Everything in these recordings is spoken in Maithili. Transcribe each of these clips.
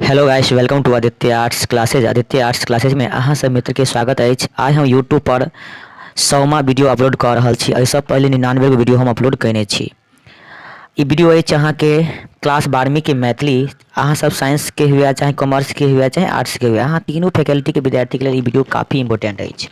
Hello guys welcome to Aditya arts classes Aditya arts classes में अहाँ सब मित्र के स्वागत अछि आइ हम यूट्यूब पर सौमा वीडियो अपलोड कऽ रहल छी एहिसँ पहिले निन्यानवे गो वीडियो हम अपलोड कयने छी ई वीडियो अछि अहाँके क्लास बारहवींके मैथिली अहाँ सब साइंसके हुए चाहे कॉमर्सके हुए चाहे आर्ट्सके हुए अहाँ तीनू फैकल्टीके विद्यार्थीके लेल ई वीडियो काफी इम्पोर्टेंट अछि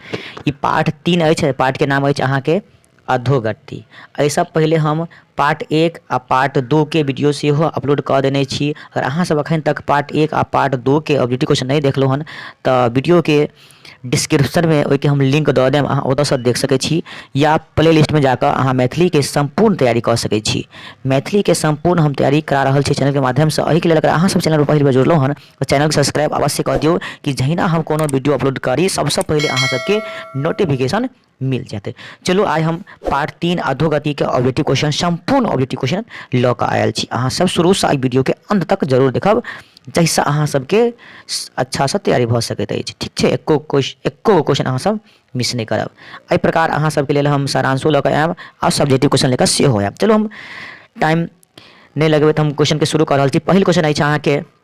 ई पार्ट तीन अछि पार्टके नाम अछि अहाँके अधोगति। अइसँ पहिले हम पार्ट एक आ पार्ट दू के वीडियो सेहो अपलोड कऽ देने छी। अगर अहाँ सब अखन तक पार्ट एक आ पार्ट दू के ऑब्जेक्टिव क्वेश्चन नहि देखलहुँ हन तऽ वीडियो के डिस्क्रिप्शन मे ओहिके हम लिंक दऽ देब अहाँ ओतऽ सँ देख सकै छी या प्ले लिस्ट मे जाकऽ अहाँ मैथिली के सम्पूर्ण तैयारी कऽ सकै छी। मैथिली के सम्पूर्ण हम तैयारी करा रहल छी चैनल के माध्यम सँ। एहिके लेल अगर अहाँ सब चैनल पर पहिल बेर जुड़लहुँ हन तऽ चैनल के सब्सक्राइब अवश्य कऽ दियौ कि जहिना हम कोनो वीडियो अपलोड करी सबसँ पहिले अहाँ सबके नोटिफिकेशन। मिल जेतै चलू आइ हम पार्ट तीन अधोगतिके ऑब्जेक्टिव क्वेश्चन सम्पूर्ण ऑब्जेक्टिव क्वेश्चन लऽ कऽ आयल छी अहाँसभ शुरूसँ एहि वीडियोके अन्त तक जरूर देखब जाहिसँ अहाँसभके अच्छासँ तैयारी भऽ सकैत अछि ठीक छै एक्को क्वेश्चन एक्को गो क्वेश्चन अहाँसभ मिस नहि करब एहि प्रकार अहाँसभके लेल हम सारांशो लऽ कऽ आयब आओर सब्जेक्टिव क्वेश्चन लऽ कऽ सेहो आयब चलू हम टाइम नहि लगबैत हम क्वेश्चनके शुरू कऽ रहल छी पहिल क्वेश्चन अछि अहाँके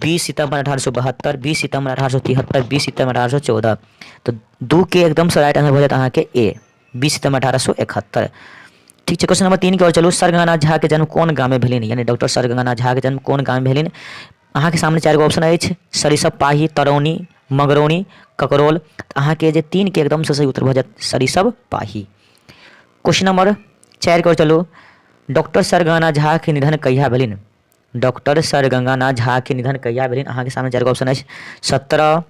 बीस सितम्बर अठारह सए बहत्तर बीस सितम्बर अठारह सए तिहत्तर बीस सितम्बर अठारह सए चौदह तऽ दू के एकदम से राइट आंसर भऽ जायत अहाँके ए बीस सितम्बर अठारह सए एकहत्तर ठीक छै क्वेश्चन नंबर तीन के ओर चलू सर गंगानाथ झा के जन्म कोन गाम में भेलनि यानी डॉक्टर सर गंगानाथ झा के जन्म कोन गाम में भेलनि अहाँके सामने चारि गो ऑप्शन अछि सरिसब पाही तरौनी मगरौनी ककरोल अहाँके जे तीन के एकदम से सही उत्तर भऽ जायत सरिसब पाही क्वेश्चन नंबर चारि के ओर चलू डॉक्टर सर गंगानाथ झा के निधन कहिया भेलनि डॉक्टर सर गंगानाथ झाके निधन कहिया भेलनि अहाँके सामने चारि गो ऑप्शन अछि सत्रह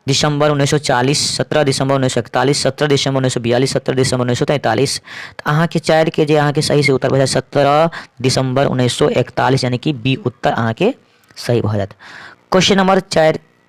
दिसंबर उन्नैस सए चालीस सत्रह दिसंबर उन्नैस सए इकतालीस सत्रह दिसंबर उन्नैस सए बियालीस सत्रह दिसंबर उन्नैस सए तैंतालीस तऽ अहाँके चारिके जे अहाँके सही से उत्तर भऽ जायत सत्रह दिसंबर उन्नैस सए इकतालीस यानि कि बी उत्तर अहाँके सही भऽ जायत क्वेश्चन नंबर चारि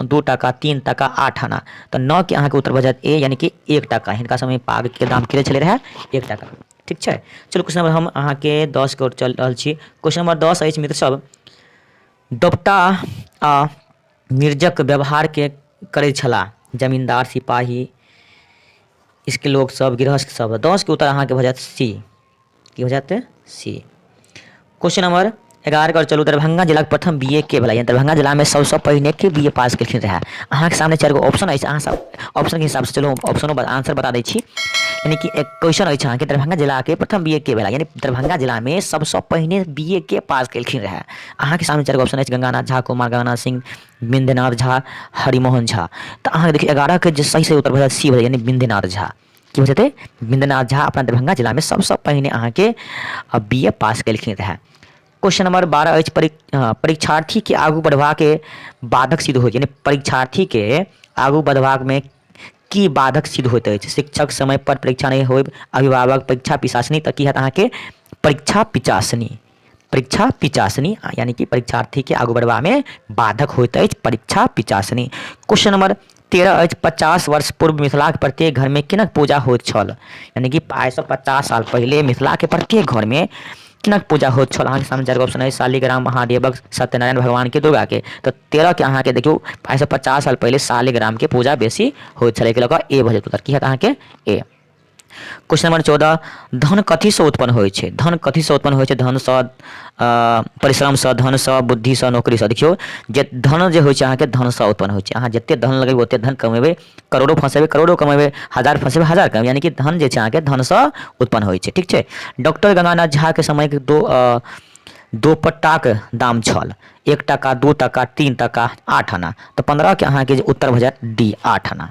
दू टाका तीन टाका आठ आना तऽ नओ के अहाँके उत्तर भऽ जायत ए यानि कि एक टाका हिनका समय पाग के दाम कते छलै रहै एक टाका ठीक छै चलू क्वेश्चन नंबर हम अहाँके दस के ओर चलि रहल छी क्वेश्चन नंबर दस अछि मित्र सब दोपटा आ निर्जक व्यवहार के करै छलाह जमींदार सिपाही इसके लोग सब गृहस्थ सब दस के उत्तर अहाँके भऽ जायत सी की हो जाते सी क्वेश्चन नंबर एगारह कर चलू दरभंगा जिलाक प्रथम बी ए के भेला यानी दरभंगा जिलामे सबसँ पहिने के बी ए पास केलखिन रहए अहाँके सामने चारि गो ऑप्शन अछि अहाँ सब ऑप्शनके हिसाबसँ चलू ऑप्शनो आंसर बता दै छी यानी कि एक क्वेश्चन अछि अहाँके दरभंगा जिलाके प्रथम बी ए के भेला यानी दरभंगा जिलामे सबसँ पहिने बी ए के पास केलखिन रहए अहाँके सामने चारि गो ऑप्शन अछि गंगानाथ झा कुमार गंगानाथ सिंह बिंदनाथ झा हरिमोहन झा तऽ अहाँके देखियौ एगारहके जे सही सही उत्तर भऽ जायत सी भऽ जायत यानी बिंदनाथ झा की हो जेतै बिन्दनाथ झा अपना दरभंगा जिलामे सभसँ पहिने अहाँके बी ए पास केलखिन रहए क्वेश्चन नंबर बारह अछि परीक्षार्थीके आगू बढ़बाके बाधक सिद्ध होइत यानी परीक्षार्थीके आगू बढ़बाकमे की बाधक सिद्ध होइत अछि शिक्षक समयपर परीक्षा नहि होयब अभिभावक परीक्षा पिशासनी तऽ की हैत अहाँके परीक्षा पिचासनी परीक्षा पिचासनी यानी कि परीक्षार्थीके आगू बढ़बामे बाधक होइत अछि परीक्षा पिचासनी क्वेश्चन नंबर तेरह अछि पचास वर्ष पूर्व मिथिलाके प्रत्येक घरमे किनक पूजा होइत छल यानी कि आइसँ पचास साल पहिले मिथिलाके प्रत्येक घरमे किनक पूजा होइत छल अहाँके सामने चारि ऑप्शन अछि शालिग्राम महादेवक सत्यनारायण भगवानके दुर्गाके तऽ तेरहके अहाँके देखियौ आइसँ पचास साल पहिले शालिग्रामके पूजा बेसी होइत छलै एहिके लऽ कऽ ए भऽ जेतै उत्तर की हएत अहाँके ए क्वेश्चन नंबर चौदह धन कथीसँ उत्पन्न होइ छै धन कथीसँ उत्पन्न होइ छै धनसँ परिश्रमसँ धनसँ बुद्धिसँ नौकरीसँ देखियौ जे धन जे होइ छै अहाँके धनसँ उत्पन्न होइ छै अहाँ जतेक धन लगेबै ओतेक धन कमेबै करोड़ो फँसेबै करोड़ो कमेबै हजार फँसेबै हजार कमेबै यानि कि धन जे छै अहाँके धनसँ उत्पन्न होइ छै ठीक छै डॉक्टर गंगानाथ झाके समयके दो दोपट्टाक दाम छल एक टाका दू टाका तीन टाका आठ आना तऽ पन्द्रहके अहाँके जे उत्तर भऽ जायत डी आठ आना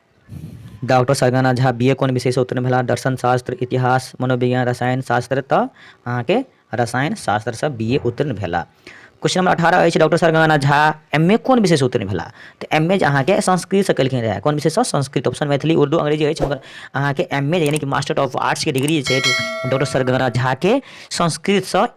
डॉक्टर सरगना झा बी ए कोन विषयसँ उत्तीर्ण भेला दर्शन शास्त्र इतिहास मनोविज्ञान रसायन शास्त्र तऽ अहाँके रसायन शास्त्रसँ बी ए उत्तीर्ण भेला क्वेश्चन नंबर अठारह अछि डॉक्टर सरगना झा एम ए कोन विषयसँ उत्तीर्ण भेला तऽ एम ए जे अहाँके संस्कृतसँ केलखिन रहए कोन विषयसँ संस्कृत ऑप्शन मैथिली उर्दू अंग्रेजी अछि मगर अहाँके एम ए यानी कि मास्टर ऑफ आर्ट्सके डिग्री जे छै डॉक्टर सरगना झाके संस्कृतसँ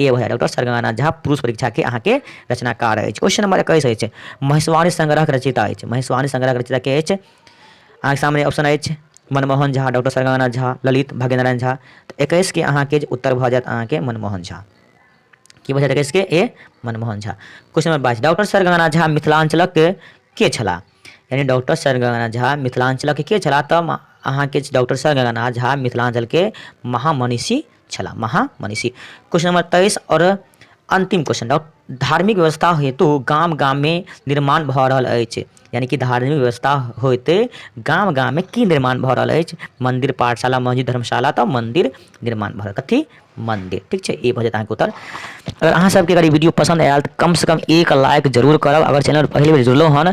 ए भैया डॉक्टर सरगाना झा पुरुष परीक्षा के अहाँ के रचनाकार अछि क्वेश्चन नंबर इक्कीस अछि महेश्वानी संग्रह के रचयिता अछि महेश्वानी संग्रह के रचयिता के अछि अहाँ के सामने ऑप्शन अछि मनमोहन झा डॉक्टर सरगाना झा ललित भाग्यनारायण झा तऽ इक्कीस के अहाँ के उत्तर भऽ जायत अहाँ के मनमोहन झा की भऽ जायत इक्कीस के ए मनमोहन झा क्वेश्चन नंबर बाईस डॉक्टर सरगाना झा मिथिलांचलक के छलाह यानी डॉक्टर सरगाना झा मिथिलांचलक के छलाह तऽ अहाँ के डॉक्टर सरगाना झा मिथिलांचल के महामनीषी छला महा मनीषी क्वेश्चन नंबर तेईस और अंतिम क्वेश्चन धार्मिक व्यवस्था हेतु गाम गाम में निर्माण भ रहल अछि यानी कि धार्मिक व्यवस्था होते गाम गाम में की निर्माण भ रहल अछि मंदिर पाठशाला मस्जिद धर्मशाला तो मंदिर निर्माण भ रहल कथी मंदिर ठीक है ये भजत अहाँके उत्तर अगर अहाँ सबके अगर वीडियो पसंद आयल तो कम से कम एक लाइक जरूर करब अगर चैनल पहले बेर जुड़लो हन